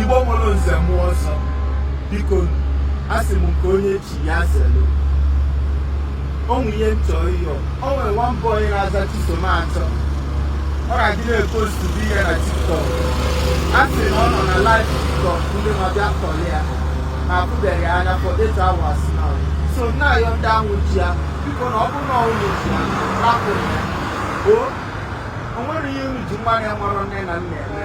Igbo nwere nze mmụọ ọzọ biko asị m nke onye chi ya zelu o nwe ihe m chọrọ ịyọ o nwere nwa boy na-aza chisom achọ ọ ga-adị na-epostu vidio na tiktok a sị na ọ nọ na live tiktok ndị na-abịa tọrọ ya na afụbeghị ya anya for eight hours now so na-ayọ ndị ahụ ji ya biko na ọ bụrụ na unu ji ya rapụ ya o o nwere ihe unu ji nwa na-enwerọ nne na nna eme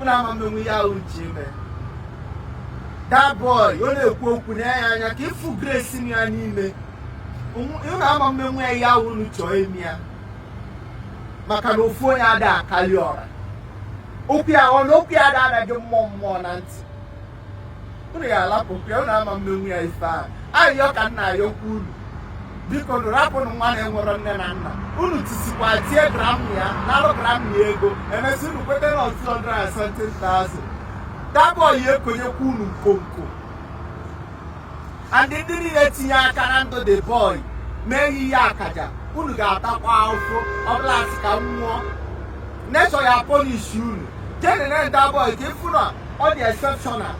unu ama mmenwu ihe ahụ unu chọ ime that boy ọ na-ekwu okwu nee ya anya ka ịfụ grace m ya n'ime unu ama mmenwu ya ihe ahụ unu chọọ ime ya maka na ofu onye ada akali ọra okwu ya ọ na-ekwu ya ada anaghị mmụọ mmụọ na ntị unu ya alapụkwa ya unu ama mmenwu ya ife ahụ ayịyọ ka m na-ayọkwa unu bikonụ rapụnụ nwa na-enwerọ nne na nna unu tisikwa tie grandma ya nalụ grandma ya ego emesị unu kweta na ọ 270,000 that boy ya ekonyekwa unu nkonko and ndị niile tinye aka na ndụ the boy mee ya ihe akaja unu ga-atakwa ahụhụ ọbụla asị ka m nwụọ nature ya punish unu je nene that boy ka ịfụ na ọ dị exceptional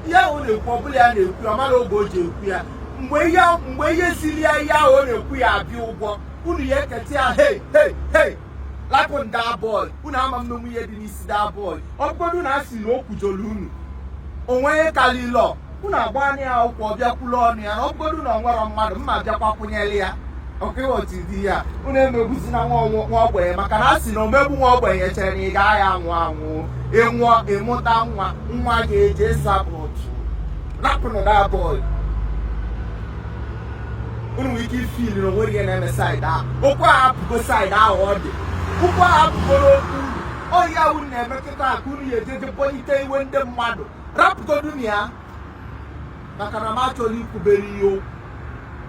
ihe ahụ ọ na-ekwu ọ bụrọ ya na-ekwu ya ọ marọ oge o ji ekwu ya mgbe ihe mgbe ihe siri ya ihe ahụ ọ na-ekwu ya abịa ụgwọ unu ya eketa ya hei hei hei lapụnụ that boy unu ama mmenwu ihe dị n'isi that boy ọ bụgodu na a sị na o kwujolu unu o nwe ihe kalilọ unu agbaanụ ya akwụkwọ ọ bịa kwulu ọnụ ya na ọ bụgodu na o nwerọ mmadụ mma bịakwa kwụnyere ya ọkịghọtụ di ya unu emegbuzina nwa ọnwụ- nwa ogbenye maka na a sị na omegbu nwa ogbenye chere na ị gaghị anwụ anwụ ịnwụọ ịmụta nwa nwa ga-eji ịsa bọọlụ rapụnụ that boy unu nwere ike ifili na onwere ihe na-eme side ahụ okwu ahụ apụgo side ahụ ọ dị okwu ahụ apụgoro okwu unu ọ ihe ahụ unu na-eme kịta ka unu ya eji eje kpọlite iwe ndị mmadụ rapụgodu na ya maka na m achọrọ ikwubere ihe okwu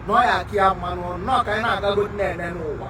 na ọ ya aka ya mmanụ ọnụ na ọ ka anyị na-agago na-ene n'ụwa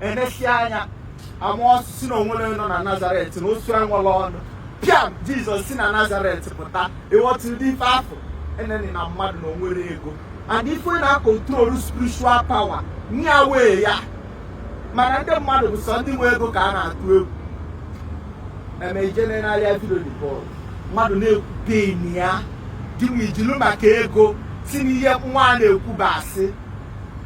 emesịa anya amụọ osu sị na onwere nọ na nazaret na osu enwerọ ọnụ bịa jizọs si na nazaret pụta ịghọta ụdị ife afụ enenina mmadụ na onwerọ ego and ife na-akontrolu spiritual power nya nwee ya mana ndị mmadụ bụ sọ ndị nwe ego ka a na-atụ egwu eme ijene n'ahịa vidio the boy mmadụ na-ekwu pain ya gịnwa ijilu maka ego sị na ihe nwa a na-ekwu bụ asị